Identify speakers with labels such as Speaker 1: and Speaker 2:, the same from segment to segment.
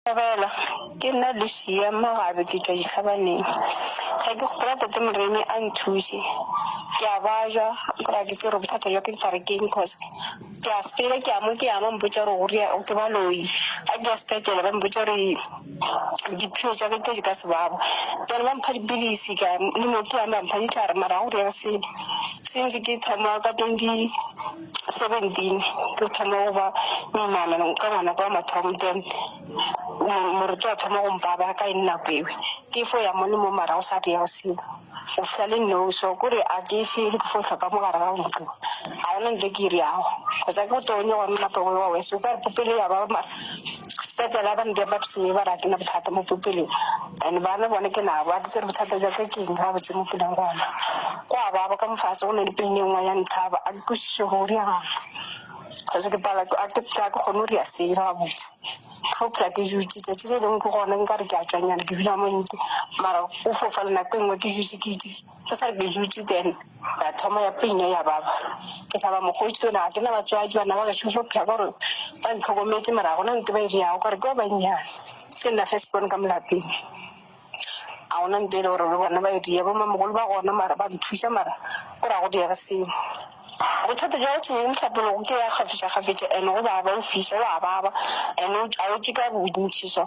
Speaker 1: Dumela, ke nna Lucia Mogabe ke tšwa Dihlabaneng. Ge ke gopola tate Moremi a nthuse, ke a bajwa gore ke tsere bothata bja ke tare keng cause ke a sepela ke ya mo ke ya ba mpotša gore go rea ke baloi. Ga ke ya sepetele ba mpotša gore diphio tša ke di ka se babo then ba mpha dipilisi ka ya le mo ke yang ba mpha ditlhare mara ga go direga selo since ke thoma ka twenty. 17 ke thoma go ba moimana ka ngwanaka wa mathomo then moreto wa thoma go mpaba ka eng nako ewe ke fo ya mone mo marago sa di ya go seo o fihla le no so kore a ke se ke fo tlhoka mo gare ga ntlo ga ona nto ke iri yago kgotsa ke go tonye gone napa wa wese o ka re popelo ya ba mara Sepetlele ba nteya ba thuse ba re ga ke na bothata mo popelong and bana bone ke nabo ga ke tsebe bothata jwa ka ke eng gabotse mo pelong gona. Go a baba ka mo fatshe go na le pain e nngwe ya ntlhaba ga ke kwešiše gore go direga eng cause ke palelwa ke ga ke ga ke kgone go dira selo gabotse. Ke fo phela ke dutše tšatši le lengwe ke gone nkare ke a tšwanyana ke dula mo ntlo mara go fofa le nako e nngwe ke dutše ke . Ke sa re ke dutše then ya thoma ya pina ya baba ke thaba mokgotsi ke na ke na batswadi bana ba gešo fo phela gore ba ntlhokometse mara gona nte ba e diago gore ke ba bannyane ke nna first born ka molapeng a gona nte e le gore le bona ba e dia bo mamogolo ba gona mara ba nthuša mara gore a go diege selo bothata jwa gotho eng tlhapologo ke ya kgafetša kgafetša and go baba o fiša wa baba and a o ke ka bontšhi so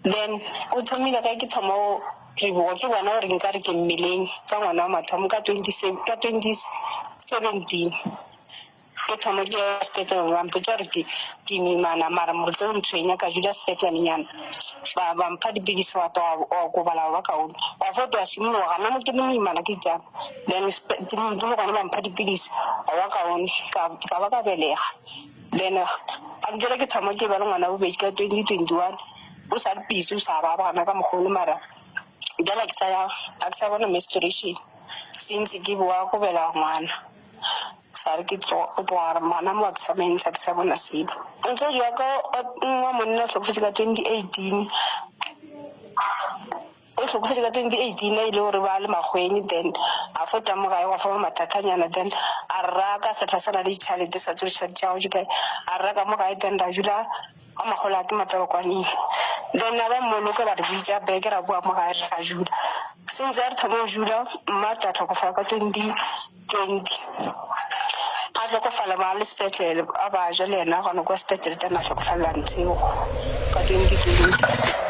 Speaker 1: then o thomile ge ke thoma Tebogo ke bona gore nkare ke mmeleng ka ngwana wa mathomo ka 27 ka 2017 ke thoma ke ya sepetlele ba mpotša gore ke ke imana mara mo tlo ntshwenya ka dula sepetlelenyana ba ba mpha dipilisi wa twa wa okobala wa ba kaone wa fo twa simologa nna mo ke le moimana ke itsang then spe- ke mo- ke mo gone ba mpha dipilisi wa ba kaone ka ka ba ka belega then a ntse ke thoma ke ba le ngwana bobedi ka 2021 O sa re busy o sa ba bona ka mokgwa ono mara bjale ha ke sa ya ha ke sa bona menstruation since ke bowa go bela ngwana sa re ke tlo gore ngwana mo ke sa mo ntsha ke sa bona sebe motswadi wa ka wa monna o hlokofetse ka twenty eighteen O hlokofetše ka 2018 ge e le gore ba le makgweng then a fo tamoga a ewa fa mathatanyana then a rra ka sehla sa na le ditšhalete sa tsebe ditšhalete tša gagwe di kae a rra ka mo gae then ra dula ka makgola a ke matswalokwaneng then a ba mmoloke ba re bitša beke ra bowa mo gae re ra dula sentse a re thoma go dula mma tla tlhokofala ka 20 20 a hlokofala ba le sepetlele a ba ja le yena gona kwa sepetlele teng a hlokofalela ntshego ka 2020.